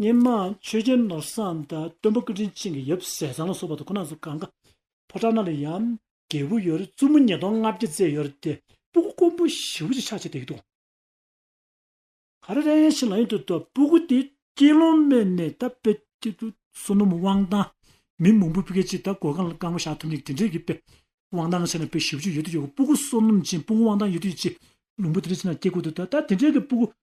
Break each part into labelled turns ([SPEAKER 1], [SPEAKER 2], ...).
[SPEAKER 1] སྙེ་མ་ཆོས་རྒྱལ་ནོར་བཟང་དང་སྟོན་པ་ཀུན་དྲིན་ཅན་གྱི་ཡབ་སྲས་ཚང་ལ་སོགས་པ་དང་ཁོ་ན་ཚོ་གང་ག་ཕོ་བྲང་ན་ལ་ཡང་རྒྱལ་བུ་ཡོད་རེ་བཙུན་མོ་ཉིས་སྟོང་ལྔ་བརྒྱ་བཙས་ཡོད་རེ་དེ་སྤུ་གུ་དཀོན་པོ་བཞི་བོ་ཅིག་ཕྱག་བྱས་བསྡད་ཀྱི་འདུག། ག་རེ་རེ་ཡང་ཕྱིར་ལངས་ཡོད་དུས་དང་སྤུ་གུ་དེ་དཀྱིལ་སློང་སྨད་ནས་ད་དཔེ་དཀྱིལ་དུ་བསོད་ནམས་དབང་ཐང་མི་མང་པོ་སྤུ་གའི་ཅིག་ད་གོ་གང་ལ་བསྐང་བ་བཞག་ཐུབ་མིན་གྱི་དེ་འདྲའི་གི་དཔེ་དབང་ཐང་ཆེ་ན་དཔེ་བཞི་བོ་ཅིག་ཡོད་དུས་ཡོད་གི་སྤུ་གུ་བསོད་ནམས་ཅན་སྤུ་གུ་དབང་ཐང་ཡོད་དུས་ཅིག་ལུང་པ་དེ་འདྲའི་ཆེ་ན་སྐྱེ་དགུ་དུ་ད་ད་དེ་འདྲའི་གི་སྤུ་གུ་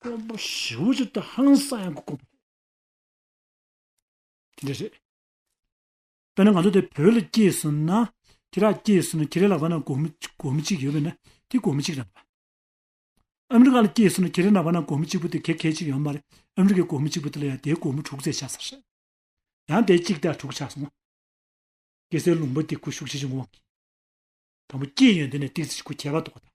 [SPEAKER 1] དཀོན་པོ་བཞི་བོ་ཅིག་ཏུ་ཧང་སང་ཡང་དཀོན་པོ། དེ་འདྲ་རེད། དཔེར་ན་ང་ཚོ་དེ་བོད་ལ་སྐྱེས་སོང་ན། ཁྱེད་རང་སྐྱེས་སོང་ན་ཁྱེད་རང་ལག་པ་ན་གོ་མི་གོ་མི་གཅིག་ཡོད་པས་ན་དེ་གོ་མི་གཅིག་རང་དང། ཨ་མི་རི་ཀ་ལ་སྐྱེས་སོང་ན་ཁྱེད་རང་ལག་པ་ན་གོ་མི་གཅིག་པོ་དེ་གེ་གེ་གཅིག་ཡོད་མ་རེད། ཨ་མི་རི་ཀའི་གོ་མི་གཅིག་པོ་དེ་ལ་ཡང་དེའི་གོ་མི་དྲུག་བརྩེགས་ཆགས་ས་རེད། ཡང་དེ་གཅིག་དེ་ལ་དྲུག་ཆགས་སོང་ན། སྐྱེ་སའི་ལུང་པ་དེ་ཁུ་བྱུག་ཆེ་ཆུང་གི་དབང་གིས། དང་པོ་སྐྱེས་ཡོན་དེ་ནས་ཏིག་ཙི་ཆུ་ཁུ་ཁྱད་པར་དོག་པ་དང།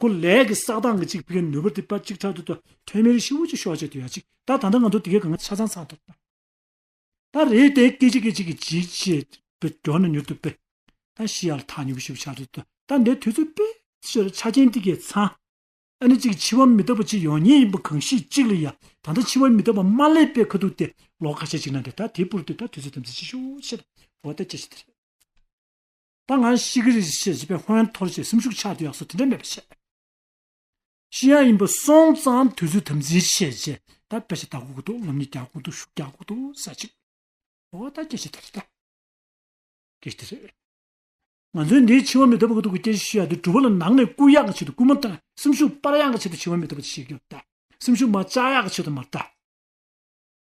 [SPEAKER 1] ཀུན་ལས་ཀྱི་བསགས་སྟངས་ཀྱི་གཅིག་པའི་ནོར་བུ་དེ་པ་གཅིག་ཕྲག་དུ་དུ་ཐོན་མེ་རི་ཤི་བོ་ཅིག་ཤོག་ཅིག་དུ་ཡ་ཅིག་ད་ད་ད་ང་ཚོ་དེ་གའི་གང་ཆ་ཚང་ཚང་ཐོབ། ད་རེས་དེ་སྐད་ཅིག་སྐད་ཅིག་གིས་ཇི་བྱེད་པའི་སྒྲོ་ནས་མྱུར་དུ་པེ། ད་ཤི་ཡ་ལ་ཐག་ཉུག་གི་ཤི་བོ་ཤག་ཅིག་དུ་ད་འདའི་དུས་ཚོད་པེ་ཕྱིར་ཆ་རྐྱེན་དེ་གའི་ཚང། ཨ་ནི་ཅིག་འཆི་བ་མི་རྟག་པ་ཅིག་ཡོང་ཉེ་ཡིན་པ་གང་ཤེས་ཅིག་ལ་ཡ་ད་ད་འཆི་བ་མི་རྟག་པ་མ་ལས་པའི་ཁ་ཐུག་དེ་ལོག་ཁ་ཤས་ཅིག་ན་འདྲ་ད་དེ་པུར་དུ་ད་དུས་ཚོད་དམ་ཚིག་ཅིག་ཤོག་ཤེས་ད་བོ་ད་ཅི་ཞིག་དེ་རེད། ད་ང་ཤི་གི་རེད་ཅེས་བྱས་པས་ཧོན་ཐོར་ཞེས་སེམས་ཤུགས་ཆགས་དུས་ཡག་སོ་དེ་འདྲ་མེད་པ་བཤད། ཤི་ཡ་ཡིན་པ་སོང་ཙང་དུས་ཚོད་དམ་འཛིན་བྱས་རྗེས་ད་དཔེ་ཆ་ད་གོ་གི་འདུག་ལམ་གཉིས་རྒྱག་གོ་འདུག་ཤུགས་རྒྱག་གོ་འདུག་ས་ཅིག་ཨོ་ད་སྐད་ཆ་དེ་རེད་ད། སྐད་ཆ་དེ་རེད། ང་ཚོའི་འདིའི་འཆི་བ་མི་ཐོབ་གི་འདུག་གི་སྐད་ཆ་ཤི་ཡ་དེ་གྲུབ་བ་ལ་ནང་ནས་སྐུལ་ཡག་གི་ཆེད་དུ་སྐུལ་མ་ཏང་སེམས་ཤུགས་སྤར་ཡག་གི་ཆེད་དུ་འཆི་བ་མི་ཐོབ་པ་དེ་བཤད་ཀྱི་ཡོད་ད་སེམས་ཤུགས་མ་བཅག་ཡག་གི་ཆེད་དུ་མ་ཏང།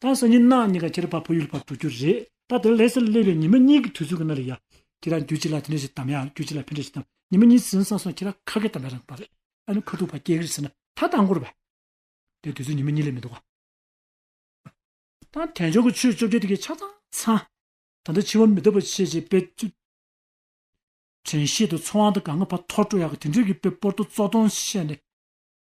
[SPEAKER 1] ད་སང་ཉིན་གནའ་གཉིས་ཀ་ཁྱེར་བར་བོད་ཡུལ་བར་འགྲོ་རྒྱུ་རེད། ད་དེར་ལྷས་སར་སླེབས་པའི་ཉི་མ་གཉིས་ཀྱི་དུས་ཚོད་ཀྱི་སྣ་རེ་ཡ། ཁྱེད་རང་རྒྱུད་གཅིག་ལ་དེ་འདྲ་ཞིག་དམ་ཡང་རྒྱུད་གཅིག་ལ་ཕན་འདྲ་ཞིག་དམ་ཉི་མ་གཉིས་ཟིན་སང་སོང་ཁྱེད་རང་ཁ་སྐད་དམ་ཡ་རང་པ་རེད་ཨ་ནི་ཁ་ཐུག་བར་སྐད་ཀྱིར་ཟེར་ན་ད་ལྟ་འགོར་བས། དེ་དུས་ཚོད་ཉི་མ་གཉིས་ལས་མི་འདུག་ག། ད་དེང་སྦྱོར་གྱི་ཆོས་བཅོ་བརྒྱད་དེ་གའི་ཆ་ཚང་ཚང། ད་ལྟ་འཆི་བ་མི་ཐུབ་པ་བྱེད་ཅེས་དཔེ། དྲན་ཤེས་དང་ཚོར་བ་དང་དགའ་ངོ་བར་ཐོར་སྤྲོ་ཡག་གི་དེ་འདྲས་ཀྱི་དཔེ་སྤོར་ཏོ་བཙོག་སྟོང་བཤད་ནས།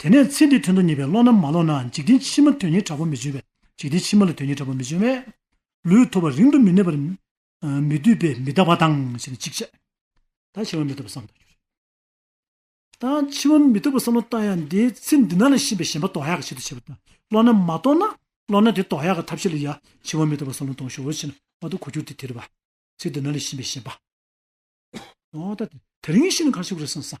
[SPEAKER 1] དེ་ནས་ཚེ་འདིའི་དོན་དུ་ཉེས་པའི་བློ་རྣམས་མ་ལོག་ནའང་འཇིག་རྟེན་ཕྱི་མ་དོན་གཉེར་དྲག་པོ་མི་འབྱུང་བས་འཇིག་རྟེན་ཕྱི་མ་ལ་དོན་གཉེར་དྲག་པོ་མི་འབྱུང་བས། ལུས་ཐོབ་པ་རིང་དུ་མི་གནས་པར། མི་སྡུད་པས་མི་རྟག་པ་དང་ཞེས་ནི་ཅིག་ཅར། ད་འཆི་བ་མི་ཐོབ་པར་བསམ་མདོག་གྱུར། ད་འཆི་བ་མི་ཐོབ་པར་བསམ་བློ་བཏང་ཡང་དེའི་ཚེ་འདི་ན་ལ་ཤེས་པའི་ཞེན་པ་དོགས་ཡག་གི་ཆེད་དུ་བྱེད་པ་དང་བློ་རྣམས་མ་རྟོགས་ན། བློ་སྣ་དེ་དོགས་ཡག་གི་ཐབས་ཤེས་ལ་ཡང་འཆི་བ་མི་ཐོབ་པར་བསམ་བློ་གཏོང་ཞོར་བྱས་ན་ཨ་ཐུག་གོ་གྱུར་ཏེ་དེར་བ། ཚེ་འདི་ན་ལ་ཤེས་པའི་ཞེན་པ། ད་དེ་རིང་ཤི་ན་གར་ཞུགས་རེ་བསམ་བསམ།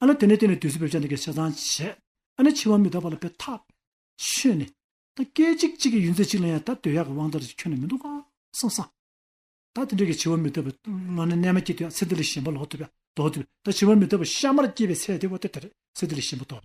[SPEAKER 1] ཨ་ལ་དེ་ནས་དེ་ནས་དུས་སུ་བེར་ཆ་འདི་གའི་ཆ་ཚང་བྱས། ཨ་ནི་འཆི་བ་མི་རྟག་པ་ལ་བེར་ཐག་ཆོད་ནས། ད་སྐད་ཅིག་གཅིག་གི་ཡུན་ཚད་ཅིག་ལ་ཡང་ད་དོལ་ཡག་གི་དབང་དར་ཅིག་ཁྱོན་ནས་མི་འདུག་གང་བསམ་བསམ། ད་དེ་འདྲ་གི་འཆི་བ་མི་རྟག་པའི་བློ་ནི་གནས་མ་སྐྱེས་དུས་ཡང་ཚེ་འདི་ལས་གཞན་པ་ལོག་ཐུབ་ཡང་ལྡོག་ཐུབ། ད་འཆི་བ་མི་རྟག་པའི་ཤ་མར་སྐྱེས་པའི་ཚེ་དེ་བ་དེ་དེར་ཚེ་འདི་ལས་གཞན་པ་ལྡོག།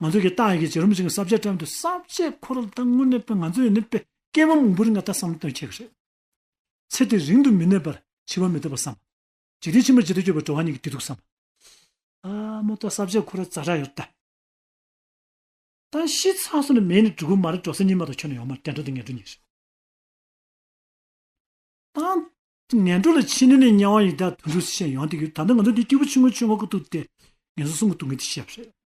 [SPEAKER 1] ང་ཚོ་གི་ཏང་ཡོན་གྱི་བྱེད་རིམ་ཞིག་གསར་བརྗེ་བཀྲམ་དུས་གསར་བརྗེ་འཁོར་ལོ་ལྟར་དངོས་གནས་ང་ཚོ་ཡོད་ནུས་པའི་སྐྱེ་བོ་མང་པོ་རིང་ལ་ལྟ་བསམ་དོན་འཁྱོལ་གྱི་རེད། ཚེ་དེ་རིང་དུ་མི་གནས་པར་འཆི་བ་མི་ཐོབ་པར་བསམ། འཇིག་རྟེན་ཕྱི་མར་ཇི་ལྟར་སྐྱོད་པའི་བྲོ་བ་ཉིད་ཀྱི་དུས་ཐུག་བསམ། ཨ་མོ་ལྟ་གསར་བརྗེ་འཁོར་ལོ་རྩ་གྲགས་ཡོད་ལྟ། ད་ཤི་ཚར་སོང་ནས་མེད་ནི་གྲུ་གུ་མ་རེད་འགྲོ་སའི་ཉི་མ་དང་ཁྱོད་ནི་ཡོང་མ་རེད་དྲན་འགྲོ་འདི་ངན་འགྲོ་ཉིན་རེད། ཏང། ངན་འགྲོ་ལ་ཕྱི་ནང་ནས་དམྱལ་བ་ཡི་དྭགས་དུད་འགྲོའི་སྲི་ཞེན་ཡང་དེ་ཡོད་ད་ལྟ་ང་ཚོ་འདི་སྐྱིད་པོ་ཆུང་ངུ་ཆུང་ངུ་གི་ཐུག་དེ་ངན་སོང་སོང་གི་འདུག་ངས་འདི་བཤད་པ་རེད།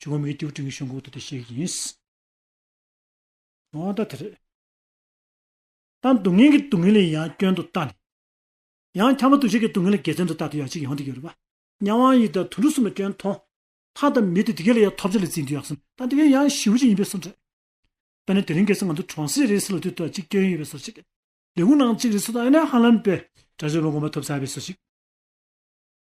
[SPEAKER 1] ཇོ་མོ་མི་རྒྱུག་སྤྲིན་གྱི་གཤོང་ཁུག་ཏུ་དེ་ཤེས་ཀྱི་ཡིན། འོ་ད་དེ་རེད། ད་སྡུག་བསྔལ་གྱི་སྡུག་བསྔལ་ལས་ཡང་སྐྱོན་དུ་བལྟ་ནས། ཡང་འཁྱམ་པོ་འདུ་བྱེད་ཀྱི་སྡུག་བསྔལ་ལས་དགེ་མཚན་དུ་བལྟ་དུས་ཡག་ཅིག་ཡོང་དུས་ཡོད་རེད་པ། གཉའ་བའང་ཡིད་དང་དུད་འགྲོ་གསུམ་ལ་སྐྱོན་མཐོང། ལྷ་དང་མི་དེ་དེ་ག་ལ་ཡང་ཐོབ་བྱ་ལས་བརྩིས་འདུག་ཡག་སེམས་ད་དེ་ག་ཡང་ཞི་བོ་ཅིག་ཡིན་པའི་སོར་འདྲེ། ད་ནི་དེ་རིང་གལ་སྲིད་ང་ཚོ་གྲོང་གསེབ་རེའི་སི་ལ་དུས་ཐོག་ཅིག་སྐྱོན་ཡོད་པའི་སོར་ཅིག། ལས་ཁུངས་ནང་གཅིག་རེའི་སུ་ད་ཨེ་ན་ཧ་ལམ་པའི་དགྲ་ཇོ་མོ་དགོངས་པ་ཐོབ་ཚར་བའི་སོར་ཅིག།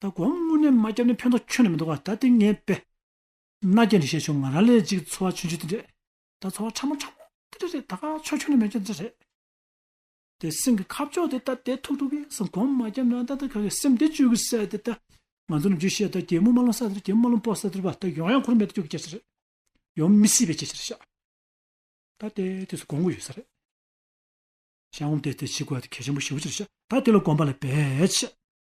[SPEAKER 1] ད་དགོང་དངོས་གནས་མ་བསྐྱབས་ན་ཕན་ཐོགས་ཁྱོན་ནས་མི་འདུག་ད་ལྟའི་ངའི་དཔེ། མནའ་སྐྱེལ་འདི་བྱས་བྱུང་ང་རང་ལས་གཅིག་འཚོ་བ་ཆུན་ཆུན་དེ་འདྲས་ད་འཚོ་བ་ཕྲ་མོ་ཕྲ་མོ་དེ་འདྲས་རེད་ད་ཁ་ཕྱོགས་ཁྱོན་ནས་མེད་ཁྱོན་དེ་འདྲས་རེད། དེ་སེམས་ཀྱི་ཁ་ཕྱོགས་དེ་ད་དེ་ཐུག་ཐུག་གིས་སམ་གོང་མ་བསྐྱབས་ན་ད་ད་ག་གི་སེམས་དེ་བཅོས་ཀི་སེ་དེ་ད་ང་ཚོ་ནི་རྒྱུ་ཤེས་ད་རྒྱལ་མོ་མ་ལོང་ས་དེར་རྒྱལ་མོ་མ་ལོང་པོ་ས་དེར་བ་ད་ཡོང་ཡང་ཁུར་མེད་དུ་བཅོས་ཀི་སྐྱེ་ས་རེད། ཡོང་མི་སྲིད་པའི་སྐྱེ་ས་རེད་ཤག་ད་དེ་དུས་སུ་དགོང་གི་ཡོད་ས་རེད། ཤག་ངོམ་དེ་དེ་བྱེད་དགོས་ད་དེ་གལ་ཆེན་པོ་ཞེ་བོ་ཅི་རེད་ཤག་ད་དེ་ལ་གོམས་པ་ལ་བས་ཤག།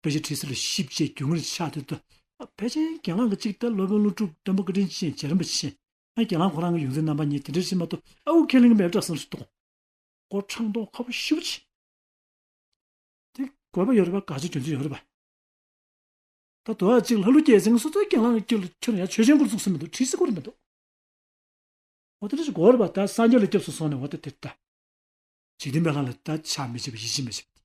[SPEAKER 1] དཔེ་ཆ་ཁྲི་སེར་བཞི་བཅས་རྒྱུན་ལྔ་རེ་ཆགས་ཡོད་དོ། དཔེ་ཆའི་རྒྱན་ལག་གི་གཅིག་སྟེ་སློབ་དཔོན་ཀླུ་སྒྲུབ་སྟོན་པ་བཀའ་དྲིན་ཅན་རྗེ་རིན་པོ་ཆེ། རྒྱན་ལག་ཁོ་རང་གི་ཡོངས་འཛིན་རྣམ་པ་གཉིས་དེ་འདྲའི་ཕྱི་མ་ཏུ་ཨ་ཨུ་ཁས་ལིང་མེར་བཀྲ་སེམས་སུ་གཏོང། སྒོ་འཕྲང་མདོག་ཁ་བོ་ཤི་བོ་ཆེ། དེ་དགོས་པ་ཡོད་རེད་པ་དགའ་ཆོས་རྒྱུ་མཚན་ཡོད་རེད་པ། ད་དུ་ཨ་གཅིག་ལྷ་ཀླུ་རྒྱལ་མཚན་སོ་སོའི་རྒྱན་ལག་གི་དཀྱིལ་དུ་ཁྱོད་རང་ཡང་ཆོས་ཆེན་སྐོར་བཙུགས་ཟིན་མི་འདུག་ཁྲི་སེར་སྐོར་རེད་མི་འདུག། འོ་དེ་འདྲ་ཞིག་དགོས་རེད་པ་ད་སངས་རྒྱས་ལ་སྐྱབས་སུ་སོང་ནས་འོ་ད་དེ་ལྟ། འཇིག་རྟེན་པའི་ལྷ་ལ་ད་ཆ་མི་བྱེད་པ་ཡིད་ཆེས་མི་བྱེད་པ་དེ།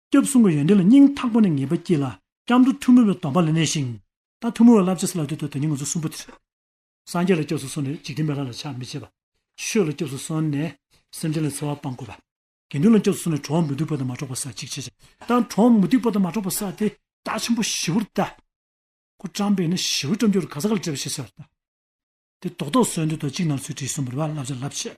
[SPEAKER 1] སྐྱབས་གསུམ་གྱི་ཡོན་ཏན་ལ་སྙིང་ཐག་པ་ནས་ངེས་པ་སྐྱེས་ལ། སྐྱབས་འགྲོ་ཐུན་མོང་བའི་སྡོམ་པ་ལ་གནས་ཤིང། ད་ཐུན་མོང་བའི་བསླབ་བྱ་སུ་ལ་འདུས་ཐོག་དེ་ཉིད་ངོ་ཚ་གསུམ་པོ་དེ་རེད། སངས་རྒྱས་ལ་སྐྱབས་སུ་སོང་ནས་འཇིག་རྟེན་པའི་ལྷ་ལ་ཕྱག་མི་བྱེད་པ། ཆོས་ལ་སྐྱབས་སུ་སོང་ནས་སེམས་ཅན་ལ་འཚེ་བ་སྤང་དགོས་པ། དགེ་འདུན་ལ་སྐྱབས་སུ་སོང་ནས་གྲོགས་མི་སྡུག་པ་དང་མ་འགྲོགས་པ་ཟག་གཅིག་བྱེད། ད་གྲོགས་མི་སྡུག་པ་དང་མ་འགྲོགས་པ་ཟག་དེ་རྟགས་ཆེན་པོ་བཞི་བོར་བལྟ། སྐུ་བཀྲམ་པས་ནི་བཞི་བོའི་བཀྲམ་སྦྱོར་ག་ས་ག་ལ་བྲིས་པ་ཞེས་བྱ་བར་བལྟ། དེ་རྡོག་རྡོག་སོལ་འདོད་དང་གཅིག་ནར་སོལ་དྲི་བསུང་བུར་བ་བསླབ་བྱ་བསླབ་བྱེད།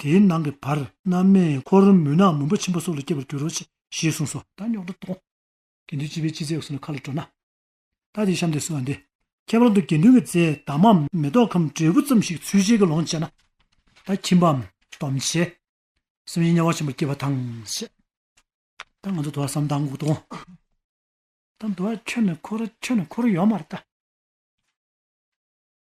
[SPEAKER 1] དེའི་ནང་གི་བར་སྣང་མེ་འཁོར་རོ་མུན་ནག་མུན་པ་ཆེན་པོ་སོགས་ལ་སྐྱེ་བར་འགྱུར་རོ། ཞེས་གསུངས་སོ། ད་ཉོག་དྲ་དོང། དགེ་འདུན་སྤྱི་བའི་སྤྱི་རྫས་སོགས་ལ་ཁ་ལ་སྤྲོ་ན། ད་དེའི་གཤམ་དུ་གསོལ་བ་འདི། ཁྱད་པར་དུ་དགེ་འདུན་གྱི་རྫས་དྭངས་མའམ་མེ་ཏོག་གམ་འབྲས་བུ་ཙམ་ཞིག་ཚུལ་བཞིན་གྱི་ལོངས་སྤྱད་ན། ད་ཁྱིམ་པའམ་སྡོམ་བྱེད། སེམས་ཉིད་དམྱལ་བ་ཆེན་པོར་སྐྱེ་བ་དང། ཞེས། ད་ང་ཚོ་དུ་བ་སམ་དྭངས་འགུགས་དོང། ད་དུ་བ་ཁྱོད་ནི་འཁོར་རོ་ཁྱོད་ནི་འཁོར་རོ་ཡོད་མ་རེད་ད།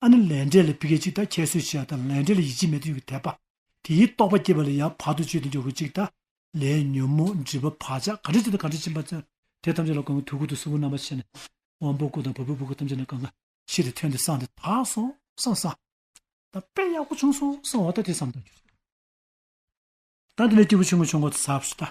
[SPEAKER 1] ཨ་ནི་ལས་འབྲས་ལས་བི་ག་ཅིག་དང་ཁྱད་གསོད་བྱེད་ཡ་དང་ལས་འབྲས་ལ་ཡིད་ཆེས་མེད་དུ་ཡོད་ཀྱི་དད་པ། དེ་ཡིས་རྟོགས་པ་བསྐྱེད་པ་ལ་ཡང་བར་དུ་གཅོད་དུ་འཇོག་གི་ཅིག་དང། ལས་ཉོན་མོངས་སྒྲིབ་པ་བག་ཆགས་གང་འདྲེན་བྱེད་དང་གང་འདྲེན་བྱིན་པ་བརྩོན། དེ་ཐམས་ཅད་ལ་གང་གི་དུས་ཀུན་ཏུ་སྲིན་བུ་རྣམ་པར་ཕྱེ་ནས། དབང་པོ་སྐུ་དང་བ་སྤུའི་བུ་ག་ཐམས་ཅད་ནས་གང་གི། ཤི་སྟེ་ཐོན་ཏེ་སངས་ཏེ་དག་སོང་སངས་སངས། དང། དཔེ་ཡག་པོ་བྱུང་སོང་སངས་འོ་ད་དེ་བསམ་དང་གྱུར། དང་དེ་ལས་སྐྱེས་བུ་ཆུང་ངུ་བྱུང་གོང་དུ་ཟབ་སོ་ད།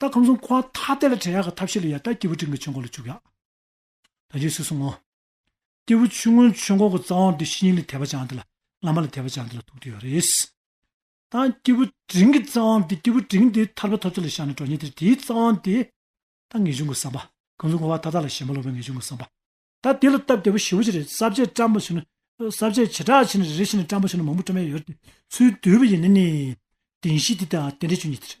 [SPEAKER 1] ད་ཁམས་སུ་འཁོར་བ་ཐ་དད་ལ་བྲལ་ཡག་གི་ཐབས་ཤེས་ལ་ཡལ་ད་སྐྱེས་བུ་སྤྲིན་གྱི་ཆུ་འགོ་ལ་བཅུག་ཡག། ད་རྗེས་སུ་སོང་ངོ། སྐྱེས་བུ་ཆུ་སྔོན་ཆུ་འགོ་གི་རྩ་བོང་དུ་ཤི་ཉིན་ལ་དད་པ་བྱང་དེ་ལ་བླ་མ་ལ་དད་པ་བྱང་དེ་ལ་ཐུག་དུས་ཡོད་རེད། ད་སྐྱེས་བུ་དྲིན་གྱི་རྩ་བོང་དུ་སྐྱེས་བུ་དྲིན་དེ་ཐར་པ་ཐོབ་ཚུལ་ལ་བཞག་ནས་འགྲོ་ཉིན་དེར་དེའི་རྩ་བོང་དེ། ད་ངེས་འབྱུང་གི་བསམ་པ། ཁམས་སུ་འཁོར་བ་ཐ་དད་ལ་ཞེན་པ་ལོག་པའི་ངེས་འབྱུང་གི་བསམ་པ། ད་དེ་ལ་སྟབས་བདེ་བོ་ཞི་བོ་ཅི་རེད་ས་བཅད་བཀྲམ་པ་ཞིག་ན། ས་བཅད་བྱེ་བྲག་ཕྱེ་ནས་རེ་རེ་བཞིན་བཀྲམ་པ་ཞིག་ན་མང་པོ་བཀྲམ་ཡག་ཡོད་རེད། ཚུལ་བསྡུས་པ་ཡིན་ན་ནི། བདེན་བཞི་དེ་དང་རྟེན་འབྲེལ་བཅུ་གཉིས་དེ་རེད།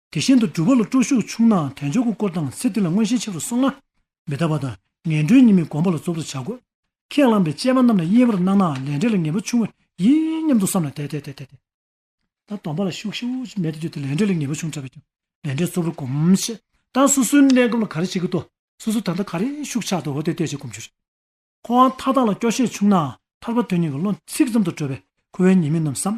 [SPEAKER 1] དེ་བཞིན་དུ་སྒྲུབ་པ་ལ་སྤྲོ་ཤུགས་ཆུང་ནའང་དལ་འབྱོར་གྱི་སྐོར་དང་ཚེ་འདི་ལ་མངོན་ཤེས་ཆེ་རུ་སོང་ན། མི་རྟག་པ་དང་ངན་འགྲོའི་གཉིས་མེད་སྒོམ་པ་ལ་རྫོབ་ཏུ་བྱ་དགོས། ཁས་བླངས་པའི་དཔྱད་པ་རྣམས་ལ་དབྱེ་བར་སྣང་ནའང་ལས་འབྲས་ལ་ངེས་པ་ཆུང་བས་ཡིན་སྙམ་དུ་བསམས་ལ་དལ་དལ་དལ་དལ་དལ། ད་སྡོམ་པ་ལ་ཤུགས་ཤུགས་མེད་དུ་གྱུར་ཏེ་ལས་འབྲས་ལ་ངེས་པ་ཆུང་ཕྲ་བས་ཀྱང་ལས་འབྲས་རྫོབ་རུ་སྒོམ། ཞེས་དང་སོ་སོའི་གནས་སྐབས་ལ་ག་རེ་བྱེད་ཀྱི་འདུག་སོ་སོ་ད་ལྟ་ག་རེ་ཤུགས་ཆགས་འདུག་འོ་དེ་ལྟས་བྱེད་སྒོམ་རྒྱུ་རེད། ཁོ་བོའང་མཐའ་དག་ལ་སྐྱོ་ཤས་ཆུང་ནའང་ཐར་པ་དོན་གཉིས་ཀྱི་བློ་ཚིག་ཙམ་དུ་གྲོལ་བས་ཁོ་བོའི་ཉེས་དམིགས་རྣམས་བསམ།